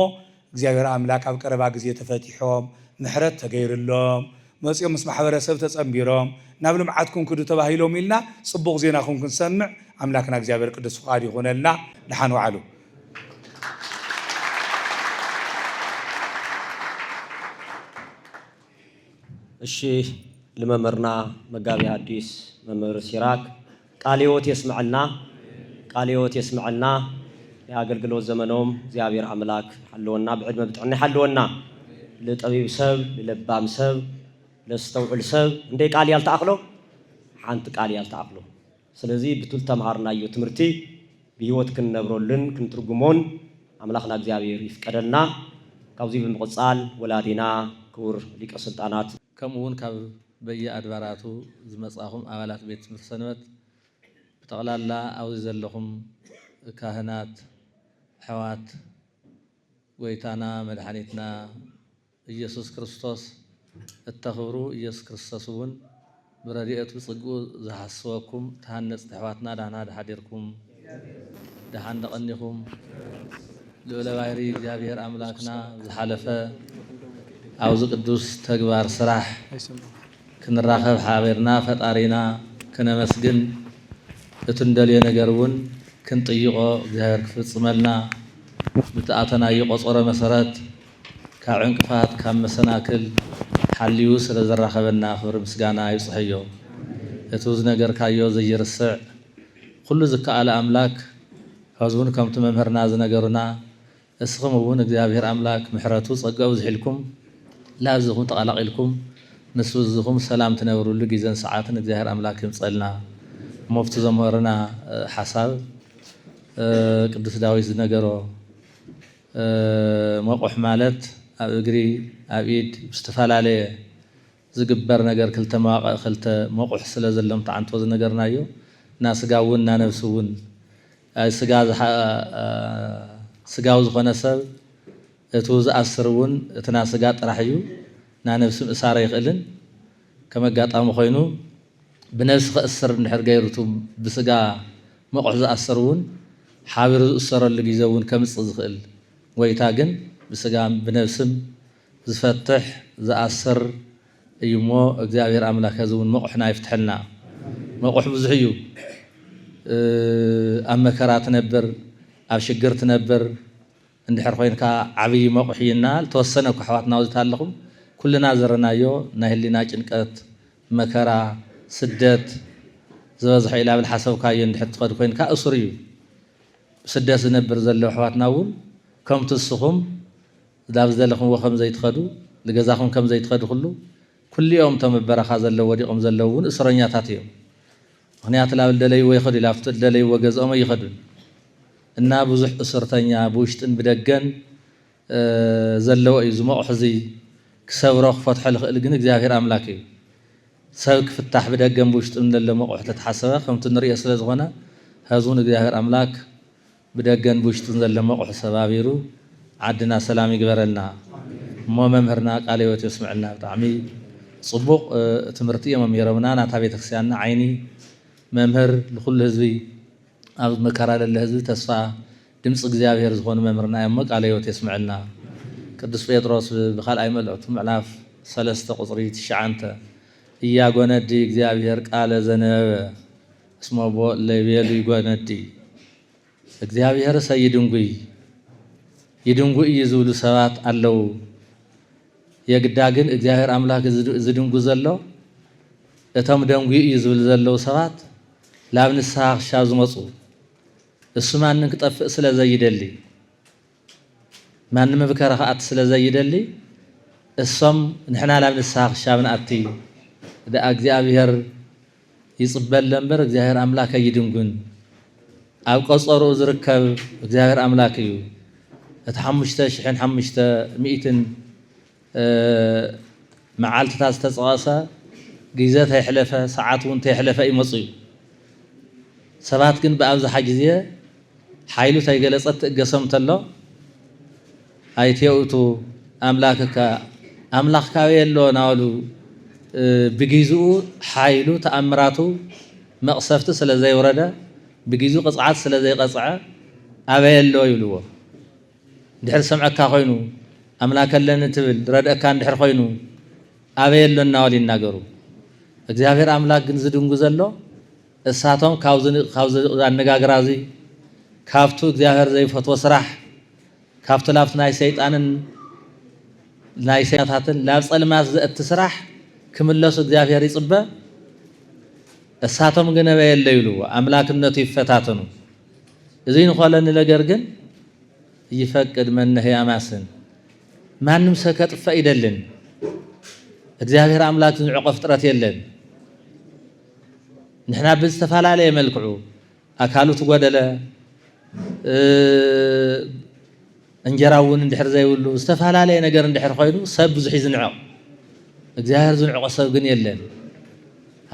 እግዚኣብሔር ኣምላክ ኣብ ቀረባ ግዜ ተፈቲሖም ምሕረት ተገይርሎም መፂኦም ምስ ማሕበረሰብ ተፀምቢሮም ናብ ልምዓትኩም ክዱ ተባሂሎም ኢልና ፅቡቕ ዜናኹም ክንሰምዕ ኣምላክና እግዚኣብሔር ቅዱስ ፍቓዱ ይኹነልና ድሓን ዋዕሉ። እሺ ልመምህርና መጋቤ ሐዲስ መምህር ሲራክ ቃለ ህይወት የስመዐልና ቃለ ህይወት የስመዐልና ናይ ኣገልግሎት ዘመኖም እግዚኣብሔር ኣምላክ ይሓልወና ብዕድመ ብጥዕና ይሓልወና ልጠቢብ ሰብ ልለባም ሰብ ለስተውዕል ሰብ እንደይ ቃል እያ ልትኣክሎ ሓንቲ ቃል እያ ልትኣክሎ ስለዚ ብቱ ልተምሃርናዮ ትምህርቲ ብህይወት ክንነብረሉን ክንትርጉሞን ኣምላክና እግዚኣብሔር ይፍቀደልና ካብዙይ ብምቅፃል ወላዲና ክቡር ሊቀ ስልጣናት ከምኡ እውን ካብ በየኣድባራቱ ዝመጻኹም ኣባላት ቤት ትምህርቲ ሰንበት ብጠቕላላ ኣብዚ ዘለኹም ካህናት ኣሕዋት ጎይታና መድሓኒትና እየሱስ ክርስቶስ እተኽብሩ እየሱስ ክርስቶስ እውን ብረድኤቱ ብጽግኡ ዝሓስበኩም ተሃነጽቲ ኣሕዋትና ዳህና ሓዲርኩም ደሓን ደቐኒኹም ልኡለ ባይሪ እግዚኣብሔር ኣምላክና ዝሓለፈ ኣብዚ ቅዱስ ተግባር ስራሕ ክንራኸብ ሓቢርና ፈጣሪና ክነመስግን እቲ እንደልዮ ነገር እውን ክንጥይቖ እግዚኣብሔር ክፍፅመልና ብትኣተናዮ ቆፀሮ መሰረት ካብ ዕንቅፋት ካብ መሰናክል ሓልዩ ስለዘራኸበና ክብሪ ምስጋና ይብፅሐዮ እቲ ዝነገርካዮ ዘይርስዕ ኹሉ ዝከኣለ ኣምላክ ሐዝውን ከምቱ መምህርና ዝነገሩና እስኽም እውን እግዚኣብሔር ኣምላክ ምሕረቱ ፀገኡ ዝሒልኩም ላዚኹም ተቀላቂልኩም ምስ ልዝኹም ሰላም ትነብርሉ ጊዘን ሰዓትን እግዚኣብሔር ኣምላክ ይምፀልና ሞፍቲ ዘምህርና ሓሳብ ቅዱስ ዳዊት ዝነገሮ መቁሕ ማለት ኣብ እግሪ ኣብ ኢድ ብዝተፈላለየ ዝግበር ነገር ክልተ መዋቅእ ክልተ መቁሕ ስለ ዘሎም ተዓንቶ ዝነገርናዮ እና ስጋ እውን እና ነብሲ እውን ኣይ ስጋ ስጋዊ ዝኮነ ሰብ እቱ ዝኣስር እውን እቲ እና ስጋ ጥራሕ እዩ እና ነብሲ ምእሳር ኣይክእልን ከም ኣጋጣሚ ኮይኑ ብነብሲ ከእስር እንድሕር ገይሩ እቱ ብስጋ መቁሕ ዝኣስር እውን ሓቢሩ ዝእሰረሉ ግዜ እውን ከምፅእ ዝክእል ጎይታ ግን ብስጋም ብነብስም ዝፈትሕ ዝኣስር እዩ እሞ እግዚኣብሔር ኣምላክ ሀዚ እውን መቑሕና ይፍትሐልና መቑሕ ብዙሕ እዩ ኣብ መከራ ትነብር ኣብ ሽግር ትነብር እንድሕር ኮይንካ ዓብይ መቑሕ እዩ እና ልተወሰነ እኳ ኣሕዋትና ኣብዚ ኣለኹም ኩልና ዝረናዮ ናይ ህሊና ጭንቀት መከራ ስደት ዝበዝሖ እዩ ላብል ሓሰብካዮ እንድሕር ትኸድ ኮይንካ እሱር እዩ ስደት ዝነብር ዘለዉ ኣሕዋትና እውን ከምቲ እስኹም ናብ ዝደለኽምዎ ከም ዘይትኸዱ፣ ንገዛኹም ከም ዘይትኸዱ ኩሉ፣ ኩሉ'ዮም እቶም ኣብ በረኻ ዘለዉ ወዲቖም ዘለዉ እውን እሱረኛታት እዮም። ምኽንያቱ ናብ ልደለይዎ ይኸዱ ላብቲ ልደለይዎ ገዝኦም ኣይኸዱን እና ብዙሕ እሱርተኛ ብውሽጥን ብደገን ዘለዎ እዩ። እዚ ሞቕሕ እዚ ክሰብሮ ክፈትሖ ልኽእል ግን እግዚኣብሔር ኣምላክ እዩ። ሰብ ክፍታሕ ብደገን ብውሽጥን ለሎ ሞቕሕ ተተሓሰበ ከምቲ ንርእዮ ስለ ዝኾነ ሀዚ እውን እግዚኣብሔር ኣምላክ ብደገን ብውሽጥን ዘሎ መቑሕ ሰባቢሩ ዓድና ሰላም ይግበረልና እሞ መምህርና ቃለ ህይወት የስመዐልና ብጣዕሚ ፅቡቕ ትምህርቲ እዮም መሚሮምና ናታ ቤተክርስቲያንና ዓይኒ መምህር ልኹሉ ህዝቢ ኣብ መከራ ለለ ህዝቢ ተስፋ ድምፂ እግዚኣብሔር ዝኾኑ መምህርና እዮም እሞ ቃለ ህይወት የስመዐልና ቅዱስ ጴጥሮስ ብካልኣይ መልእኽቱ ምዕላፍ ሰለስተ ቁፅሪ ትሽዓንተ እያጎነዲ እግዚኣብሔር ቃለ ዘነበበ እስመቦ እለ ይቤሉ ይጎነዲ እግዚኣብሔርሰ ይድንጉይ፣ ይድንጉ እዩ ዝብሉ ሰባት ኣለዉ። የግዳ ግን እግዚኣብሔር ኣምላክ ዝድንጉ ዘሎ እቶም ደንጉዩ እዩ ዝብል ዘለዉ ሰባት ላብ ንስሃ ክሻብ ዝመፁ እሱ ማንም ክጠፍእ ስለ ዘይደሊ ማንም ብከረ ክኣት ስለ ዘይደሊ እሶም ንሕና ላብ ንስሃ ክሻብ ንኣቲ ደኣ እግዚኣብሔር ይጽበለ እምበር እግዚኣብሔር ኣምላክ ኣይድንጉን ኣብ ቀጸርኡ ዝርከብ እግዚኣብሔር ኣምላክ እዩ እቲ ሓሙሽተ ሽሕን ሓሙሽተ ሚእትን መዓልትታት ዝተጸቐሰ ግዜ ተይሕለፈ ሰዓት እውን ተይሕለፈ ይመፁ እዩ ሰባት ግን ብኣብዝሓ ግዜ ሓይሉ ተይገለጸት ትእገሶም ተሎ ኣይቴውእቱ ኣምላክካ ኣምላክካው የሎ ናሉ ብጊዝኡ ሓይሉ ተኣምራቱ መቅሰፍቲ ስለ ዘይውረደ ብጊዝኡ ቅጽዓት ስለ ዘይቀጽዐ ኣበይ ኣሎ ይብልዎ እንድሕር ዝሰምዐካ ኮይኑ ኣምላክ ኣለኒ ትብል ረድእካ እንድሕር ኮይኑ ኣበይ ኣሎ እናበሉ ይናገሩ እግዚኣብሔር ኣምላክ ግን ዝድንጉ ዘሎ እሳቶም ካብዚ ኣነጋግራዚ ካብቱ እግዚኣብሔር ዘይፈትዎ ስራሕ ካብቲ ናብቲ ናይ ሰይጣንን ናይ ሰይጣናታትን ናብ ጸልማት ዘእቲ ስራሕ ክምለሱ እግዚኣብሔር ይጽበ እሳቶም ግን ኣበየለ ይብሉ ኣምላክነቱ ይፈታተኑ እዙይ ንኮለኒ ነገር ግን ይፈቅድ መነህ ኣማስን ማንም ሰብ ከጥፈእ ይደልን እግዚኣብሔር ኣምላክ ዝንዕቆ ፍጥረት የለን ንሕና ብዝተፈላለየ መልክዑ ኣካሉ ትጎደለ እንጀራ እውን እንድሕር ዘይብሉ ዝተፈላለየ ነገር እንድሕር ኮይኑ ሰብ ብዙሕ ይዝንዕቕ እግዚኣብሔር ዝንዕቆ ሰብ ግን የለን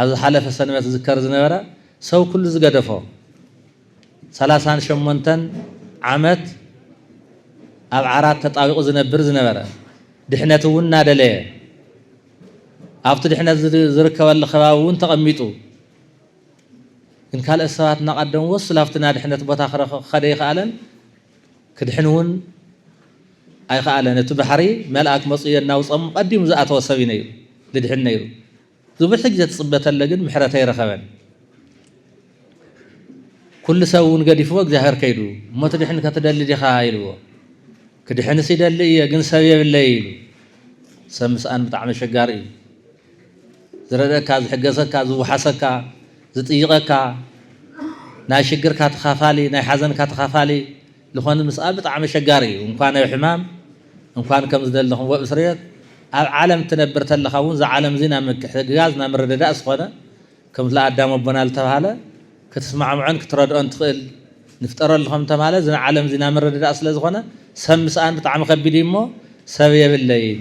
ኣብ ዝሓለፈ ሰንበት ዝዝከር ዝነበረ ሰው ኩሉ ዝገደፎ ሰላሳን ሸሞንተን ዓመት ኣብ ዓራት ተጣቢቑ ዝነብር ዝነበረ ድሕነት እውን እናደለየ ኣብቲ ድሕነት ዝርከበሉ ከባቢ እውን ተቐሚጡ ግን ካልኦት ሰባት እናቐደምዎ እሱ ናብቲ ናድሕነት ቦታ ክኸደ ኣይኸኣለን፣ ክድሕን እውን ኣይኸኣለን። እቲ ባሕሪ መልኣክ መጹ የናውጾም ቀዲሙ ዝኣተወ ሰብ እዩ ነይሩ፣ ድድሕን ነይሩ። ዝብሒ ግዜ ትጽበ ተለ ግን ምሕረት ኣይረኸበን። ኩሉ ሰብ እውን ገዲፍዎ እግዚኣብሔር ከይዱ። እሞ ትድሕን ከትደሊ ዲኻ ኢልዎ። ክድሕንስ ይደሊ እየ ግን ሰብ የብለይ ኢሉ። ሰብ ምስኣን ብጣዕሚ ኣሸጋሪ እዩ። ዝረድኣካ፣ ዝሕገዘካ፣ ዝውሓሰካ፣ ዝጥይቐካ፣ ናይ ሽግርካ ተኻፋሊ፣ ናይ ሓዘንካ ተኻፋሊ ልኾን ምስኣ ብጣዕሚ ኣሸጋሪ እዩ። እንኳን ኣብ ሕማም፣ እንኳን ከም ዝደለኹምዎ ኣብ እስርቤት፣ ኣብ ዓለም ትነብር ተለኻ እውን እዛ ዓለም እዙይ ናይ ምትሕግጋዝ፣ ናይ ምርድዳእ ዝኾነ ከምቲ ኣዳም ኣቦና ልተብሃለ ክትስማዕምዖን ክትረድኦን ትኽእል ንፍጠረሉ ከም ተብሃለ እዚ ናይ ዓለም እዙይ ናይ ምርድዳእ ስለ ዝኾነ ሰብ ምስኣን ብጣዕሚ ከቢድ እዩ እሞ ሰብ የብለይን።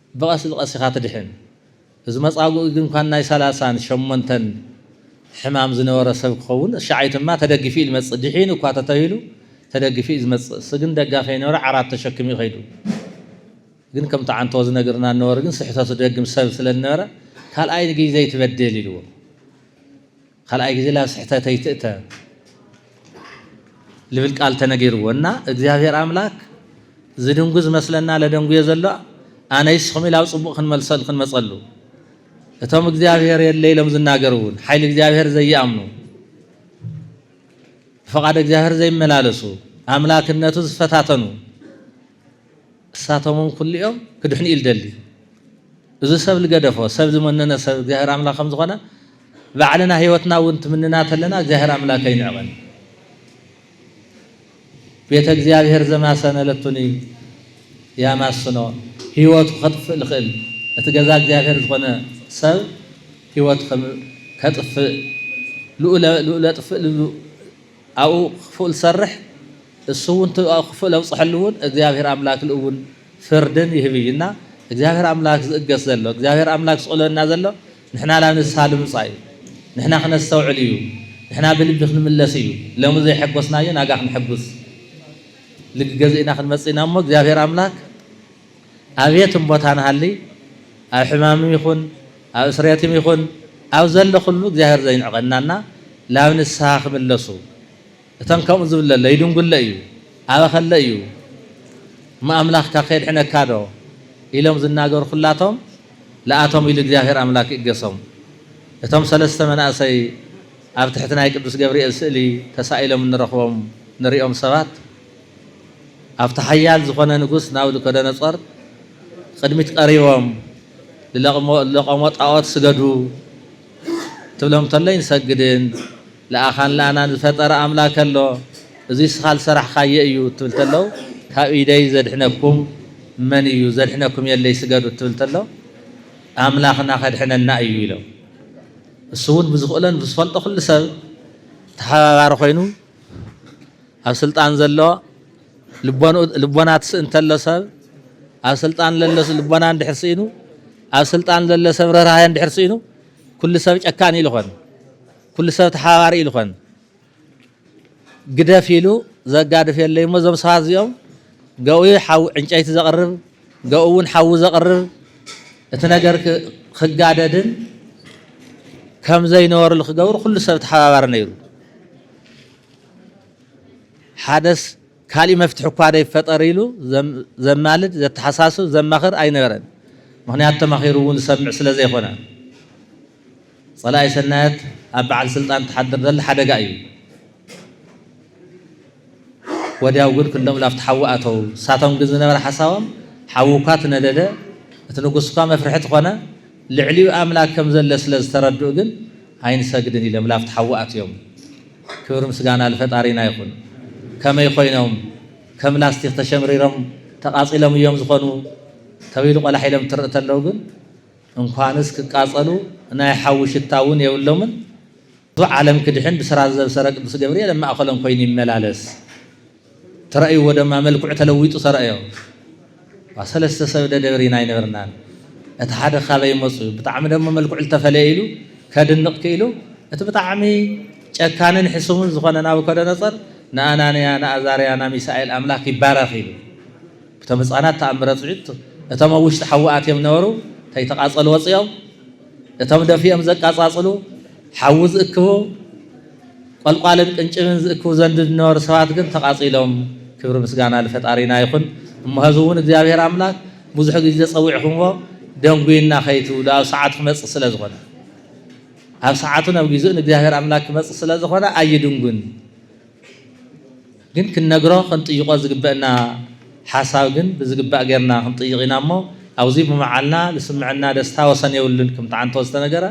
ብቐስ ብቐስ ኢኻ ትድሕን። እዚ መጻጉኢ ግን ኳን ናይ ሰላሳን ሸሞንተን ሕማም ዝነበሮ ሰብ ክኸውን እሻዓይ ትማ ተደጊፊ እዩ ልመጽእ ድሒኑ እኳ ተተሂሉ ተደጊፊ እዩ ዝመጽእ እስ ግን ደጋ ከይኖረ ዓራት ተሸኪሙ እዩ ከይዱ ግን ከም ተዓንቶ ዝነግርና ነበሩ ግን ስሕተቱ ደግም ሰብ ስለ ዝነበረ ካልኣይ ንግይ ዘይትበድል ኢልዎ ካልኣይ ግዜ ላብ ስሕተት ኣይትእተ ልብል ቃል ተነጊርዎ እና እግዚኣብሔር ኣምላክ ዝድንጉ ዝመስለና ለደንጉዮ ዘሎ ኣነይ ስኹም ኢላብ ፅቡቅ ክንመልሰሉ ክንመፀሉ እቶም እግዚኣብሔር የለ ኢሎም ዝናገሩ እውን ሓይሊ እግዚኣብሔር ዘይኣምኑ ብፈቃድ እግዚኣብሔር ዘይመላለሱ ኣምላክነቱ ዝፈታተኑ እሳቶምውን ኩሉኦም ክድሕኑ እዩ ልደሊ። እዚ ሰብ ልገደፎ ሰብ ዝመነነ ሰብ እግዚኣብሔር ኣምላክ ከምዝኾነ ባዕልና ህይወትና እውን ትምንና ተለና እግዚኣብሔር ኣምላክ ኣይንዕቐን። ቤተ እግዚኣብሔር ዘማሰነለቱኒ ያማስኖ ህይወቱ ከጥፍእ ልኽእል እቲ ገዛ እግዚኣብሔር ዝኾነ ሰብ ህይወቱ ከጥፍእ ልኡለ ጥፍእ ኣብኡ ክፉእ ዝሰርሕ እሱ እውን እቲ ኣብኡ ክፉእ ለብፅሐሉ እውን እግዚኣብሔር ኣምላክ ልእውን ፍርድን ይህብ እዩ እና እግዚኣብሔር ኣምላክ ዝእገስ ዘሎ እግዚኣብሔር ኣምላክ ዝቕለና ዘሎ ንሕና ናብ ንስሃ ልምፃእ እዩ ንሕና ክነስተውዕል እዩ ንሕና ብልቢ ክንምለስ እዩ ለሙ ዘይሐጎስናዮ ናጋ ክንሐጉስ ልግገዝእና ክንመፅእና እሞ እግዚኣብሔር ኣምላክ ኣብየትም ቦታ ንሃሊ ኣብ ሕማምም ይኹን ኣብ እስርየትም ይኹን ኣብ ዘለኹሉ እግዚኣብሔር ዘይንዕቐና እና ላብ ንስሃ ክምለሱ እተን ከምኡ ዝብለለ ይድንጉለ እዩ ኣበኸለ እዩ እሞ ኣምላኽካ ከየድሕነካ ዶ ኢሎም ዝናገሩ ኹላቶም ልኣቶም ኢሉ እግዚኣብሔር ኣምላክ ይእገሶም እቶም ሰለስተ መናእሰይ ኣብ ትሕቲ ናይ ቅዱስ ገብርኤል ስእሊ ተሳኢሎም እንረኽቦም ንሪኦም ሰባት ኣብቲ ሓያል ዝኾነ ንጉስ ናቡከደነፆር ቕድሚት ቐሪቦም ልለቖሞ ጣዖት ስገዱ ክትብሎም ተሎ ኣይንሰግድን ልኣኻን ልኣናን ዝፈጠረ ኣምላክ ኣሎ እዙይ እስኻ ልሰራሕኻዬ እዩ ክትብል ተለው ካብ ኢደይ ዘድሕነኩም መን እዩ ዘድሕነኩም የለይ ስገዱ ክትብል ተሎ ኣምላኽና ከድሕነና እዩ ኢሎም እሱውን ብዝኽእሎን ብዝፈልጦ ኩሉ ሰብ ተሓባባሪ ኾይኑ ኣብ ስልጣን ዘሎ ልቦንኡ ልቦና ትስእ እንተሎ ሰብ ኣብ ስልጣን ለሎ ልቦና እንድሕር ስኢኑ ኣብ ስልጣን ዘሎ ሰብ ርህራሄ እንድሕር ስኢኑ ኩሉ ሰብ ጨካን ኢሉ ኾን ኩሉ ሰብ ተሓባባሪ ኢሉ ኾን ግደፍ ኢሉ ዘጋድፍ የለይ እሞ እዞም ሰባት እዚኦም ገኡ ሓዊ ዕንጨይቲ ዘቕርብ ገኡ እውን ሓዊ ዘቕርር እቲ ነገር ክጋደድን ከም ዘይነበርሉ ክገብር ኩሉ ሰብ ተሓባባሪ ነይሩ። ሓደስ ካልእ መፍትሒ እኳ ደይፈጠር ኢሉ ዘማልድ ዘተሓሳስብ ዘማኽር ኣይነበረን። ምኽንያቱ ተማኺሩ እውን ዝሰምዕ ስለ ዘይኮነ። ጸላኢ ሰናያት ኣብ በዓል ስልጣን ትሓድር ዘላ ሓደጋ እዩ። ወዲያው ግን ክሎም ላብቲ ሓዊ ኣተዉ። ንሳቶም ግን ዝነበረ ሓሳቦም ሓዊ እኳ ትነደደ፣ እቲ ንጉስ እኳ መፍርሒ ትኾነ፣ ልዕሊኡ ኣምላክ ከም ዘለ ስለ ዝተረድኡ ግን ኣይንሰግድን ኢሎም ላብቲ ሓዊ ኣትዮም። ክብሪ ምስጋና ልፈጣሪና ይኹን። ከመይ ኮይኖም ከም ላስቲክ ተሸምሪሮም ተቃጺሎም እዮም ዝኾኑ ተብይሉ ቆላሕ ኢሎም ትርእ ተለው ግን እንኳንስ ክቃፀሉ ናይ ሓዊ ሽታ እውን የብሎምን ብዙሕ ዓለም ክድሕን ብስራት ዘብሰረ ቅዱስ ገብርኤል ኣብ ማእኸሎም ኮይኑ ይመላለስ ተረእይዎ ደማ መልክዑ ተለዊጡ ተረእዮ ሰለስተ ሰብ ደደብር ኢና ይነበርናን እቲ ሓደ ካበይ መፁ ብጣዕሚ ደሞ መልክዑ ዝተፈለየ ኢሉ ከድንቕ ክኢሉ እቲ ብጣዕሚ ጨካንን ሕሱምን ዝኾነ ናቡከደነፀር ንኣናንያ ንኣዛርያ ናሚሳኤል ኣምላክ ይባረኽ ኢሉ እቶም ህጻናት ተኣምረ ጽዩት እቶም ኣብ ውሽጢ ሓዊ ኣትዮም ነበሩ ከይተቃጸሉ ወጽዮም እቶም ደፊኦም ዘቃጻጽሉ ሓዊ ዝእክቡ ቆልቋልን ቅንጭብን ዝእክቡ ዘንድ ዝነበሩ ሰባት ግን ተቃጺሎም ክብሪ ምስጋና ልፈጣሪና ይኹን እሞ ህዚ እውን እግዚኣብሔር ኣምላክ ብዙሕ ግዜ ጸዊዕኹምዎ ደንጉይና ከይትብሉ ኣብ ሰዓቱ ክመጽእ ስለ ዝኾነ ኣብ ሰዓቱን ኣብ ግዜኡን እግዚኣብሔር ኣምላክ ክመጽእ ስለ ዝኾነ ኣይድንጉን ግን ክንነግሮ ክንጥይቆ ዝግበእና ሓሳብ ግን ብዝግባእ ጌርና ክንጥይቕ ኢና እሞ ኣብዙይ ብምዓልና ልስምዐና ደስታ ወሰን የብሉን ክም ትዓንቶ ዝተነገረ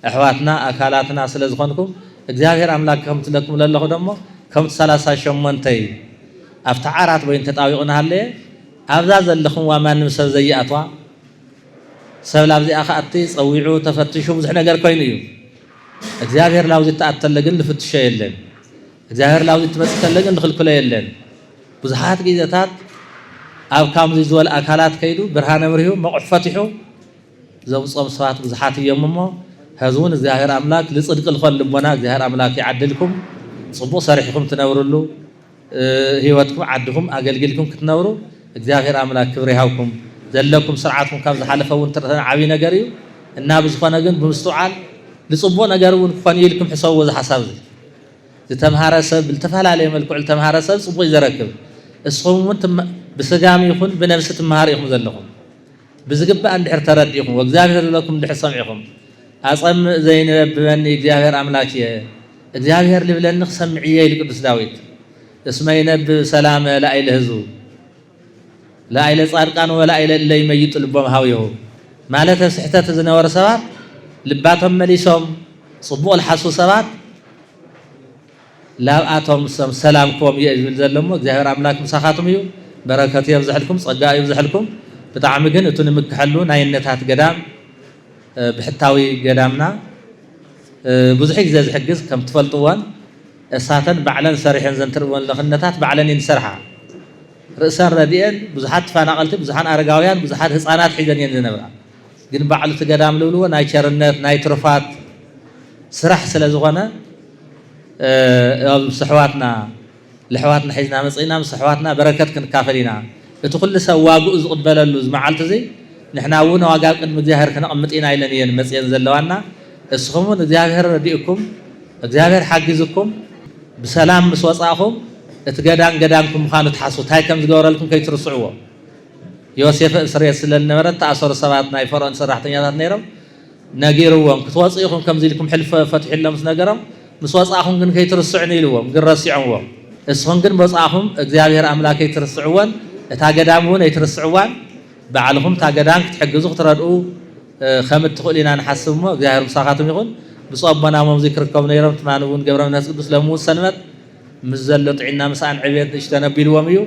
ኣሕዋትና ኣካላትና ስለ ዝኾንኩም እግዚኣብሔር ኣምላክ ከምትለኩም ለለኹ ደሞ ከምቲ ሰላሳ ሸሞንተይ ኣብቲ ዓራት በይኑ ተጣቢቑ ናሃለየ ኣብዛ ዘለኹምዋ ማንም ሰብ ዘይኣትዋ ሰብ ላብዚኣ ክኣቲ ፀዊዑ ተፈትሹ ብዙሕ ነገር ኮይኑ እዩ እግዚኣብሔር ናብዚ እትኣት ተለ ግን ንፍትሾ የለን እግዚኣብሔር ናብዚ እትመጽእ ተለ ግን ንኽልክሎ የለን ብዙሓት ግዜታት ኣብ ካምዚ ዝበል ኣካላት ከይዱ ብርሃን ኣብርሁ መቑሕ ፈትሑ ዘምጾም ሰባት ብዙሓት እዮም እሞ ህዝውን እግዚኣብሔር ኣምላክ ልጽድቂ ልኾን ልቦና እግዚኣብሔር ኣምላክ ይዓድልኩም ጽቡቕ ሰሪሕኹም ትነብርሉ ሂወትኩም ዓድኹም ኣገልጊልኩም ክትነብሩ እግዚኣብሔር ኣምላክ ክብሪ ይሃብኩም ዘለኩም ስርዓትኩም ካብ ዝሓለፈ እውን ትርተነ ዓብይ ነገር እዩ እና ብዝኾነ ግን ብምስትውዓል ንፅቡቅ ነገር እውን ክኾን እዩ ኢልኩም ሕሰብዎ እዚ ሓሳብ እዚ ዝተምሃረ ሰብ ብልተፈላለየ መልክዑ ዝተምሃረ ሰብ ፅቡቅ እዩ ዘረክብ እስኹም እውን ብስጋም ይኹን ብነብሲ ትምሃሩ ኢኹም ዘለኹም ብዝግባእ እንድሕር ተረዲእኹም ወእግዚኣብሔር ዝለኩም እንድሕር ሰምዒኹም ኣፀምእ ዘይንበብበኒ እግዚኣብሔር ኣምላክ እየ እግዚኣብሔር ልብለኒ ክሰምዕ እየ ኢሉ ቅዱስ ዳዊት እስመ ይነብብ ሰላመ ላይለ ህዝቡ ላይለ ጻድቃን ወላይለ እለ ይመይጡ ልቦም ሀውየሁ ማለተ ስሕተት ዝነበሩ ሰባት ልባቶም መሊሶም ጽቡቕ ልሓሱ ሰባት ላብኣቶም ሰም ሰላም ክቦም እየ ዝብል ዘለሞ እግዚኣብሔር ኣምላክ ምሳኻትም እዩ በረከቱ የብዝሐልኩም ጸጋ ይብዝሐልኩም ብጣዕሚ ግን እቱ ንምክሐሉ ናይነታት ገዳም ብሕታዊ ገዳምና ብዙሕ ግዜ ዝሕግዝ ከም ትፈልጥዎን እሳተን ባዕለን ሰሪሐን ዘንትርበን ለክነታት ባዕለን እየን ዝሰርሓ። ርእሰን ረዲኤን ብዙሓት ትፋናቀልቲ ብዙሓን ኣረጋውያን ብዙሓት ህጻናት ሒዘን እየን ዝነብራ። ግን ባዕሉ እቲ ገዳም ልብልዎ ናይ ቸርነት ናይ ትሩፋት ስራሕ ስለ ዝኾነ እብ ኣሕዋትና ለሕዋትና ሒዝና መጽእና ምስ ኣሕዋትና በረከት ክንካፈል ኢና እቲ ኩሉ ሰብ ዋግኡ ዝቅበለሉ ዝመዓልቲ እዙይ ንሕና እውን ዋጋ ኣብ ቅድሚ እግዚኣብሔር ክነቅምጥ ኢና ኢለን እየን መጽየን ዘለዋና እስኹም እውን እግዚኣብሔር ረዲእኩም እግዚኣብሔር ሓጊዝኩም ብሰላም ምስ ወጻእኹም እቲ ገዳም ገዳምኩም ምዃኑ ትሓስቡ ታይ ከም ዝገበረልኩም ከይትርስዕዎ ዮሴፈ እስርየት ስለ ዝነበረ ተኣሰሩ ሰባት ናይ ፈርኦን ሰራሕተኛታት ነይሮም ነጊርዎም ክትወጹ ኢኹም ከምዚ ኢልኩም ሕልፍ ፈትሑ ኢሎም ምስ ነገሮም ምስ ወጻእኹም ግን ከይትርስዑኒ ኢልዎም ግን ረሲዖምዎ እስኹም ግን ምወጻእኹም እግዚኣብሔር ኣምላክ ከይትርስዕዎን እታ ገዳም እውን ኣይትርስዕዋን ባዕልኹም እታ ገዳም ክትሕግዙ ክትረድኡ ከም እትኽእሉ ኢና ንሓስብ እሞ እግዚኣብሔር ምሳኻትም ይኹን ብፁዕ ኣቦና ሞምዙይ ክርከቡ ነይሮም ትማሊ እውን ገብረ መንፈስ ቅዱስ ለምውት ሰንበት ምስ ዘሎ ጥዒና ምስኣን ዕብየት ንእሽተን ኣቢልዎም እዩ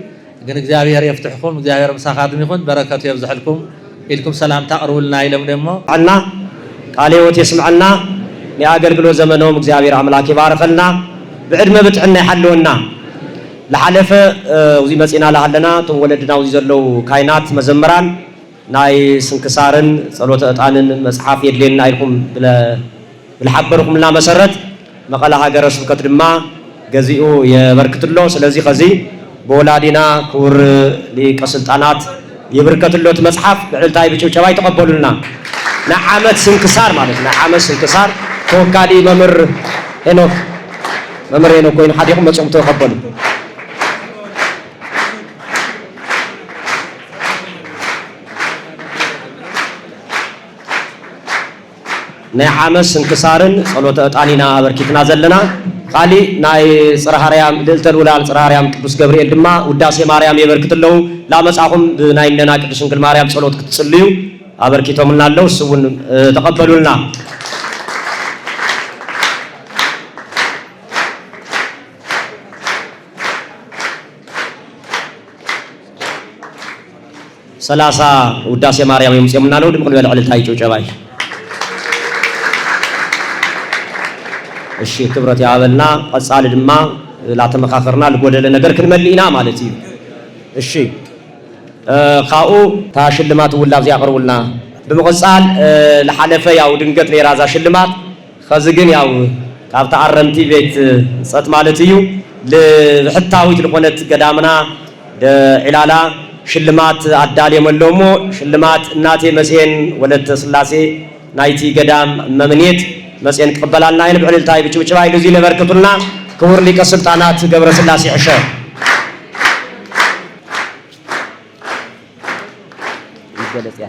ግን እግዚኣብሔር የፍትሕኩም እግዚኣብሔር ምሳካትም ይኩን በረከቱ የብዘሐልኩም ኢልኩም ሰላምታ ኣቅርቡልና ኢሎም እሞ የስምዐልና ቃለ ህይወት የስምዐልና ናይ ኣገልግሎት ዘመኖም እግዚኣብሔር ኣምላክ ይባርኸልና ብዕድመ ብጥዕና ይሓልወና ልሓለፈ እዙይ መፂእና ልሃለና እቶም ወለድና እዙይ ዘለው ካይናት መዘምራን ናይ ስንክሳርን ጸሎተ ዕጣንን መጽሓፍ የድልየና ኢልኩም ብልሓበርኩምልና መሰረት መቐለ ሃገረ ስብከት ድማ ገዚኡ የበርክትሎ ስለዚ ኸዚ ብወላዲና ክቡር ሊቀ ስልጣናት ይብርከትሎ እቲ መጽሓፍ ብዕልልታይ ብጭብጨባ ይተቐበሉልና ናይ ዓመት ስንክሳር ማለት ናይ ዓመት ስንክሳር ተወካሊ መምህር ሄኖክ መምህር ሄኖክ ኮይኑ ሓዲኹም መጽኹም ተቐበሉ። ናይ ዓመት ስንክሳርን ጸሎተ ዕጣን ኢና ኣበርኪትና ዘለና። ካሊእ ናይ ጽርሃ ኣርያም ልእልተ ልኡላን ጽርሃ ኣርያም ቅዱስ ገብርኤል ድማ ውዳሴ ማርያም የበርክት ኣለዉ። ላመጻኹም ብናይ እነና ቅድስት ድንግል ማርያም ጸሎት ክትጽልዩ ኣበርኪቶምልና ኣለዉ። እሱ እውን ተቐበሉልና። ሰላሳ ውዳሴ ማርያም የምፅኦምና ኣለዉ ድምቅ ንበል ዕልልታ እዩ ጭብጨባ እዩ እሺ ክብረት ያበልና ቀፃሊ ድማ ላተመካከርና ልጎደለ ነገር ክንመልእ ኢና ማለት እዩ እሺ ካብኡ እታ ሽልማት እውን ላብዚ ያቅርቡልና ብምቅፃል ልሓለፈ ያው ድንገት ነይራ እዛ ሽልማት ኸዚ ግን ያው ካብ ተኣረምቲ ቤት ጸት ማለት እዩ ልብሕታዊት ልኾነት ገዳምና ደዒላላ ሽልማት ኣዳልዮም ኣለዉ እሞ ሽልማት እናቴ መሴን ወለተ ስላሴ ናይቲ ገዳም እመምኔት መጼን ክቕበላልና እየን ብዕልልታ እይ ብጭብጭባ እይ ልዙይ ለበርክቱልና ክቡር ሊቀ ስልጣናት ገብረስላሴ ዕሸ። ይገለጽ እያ።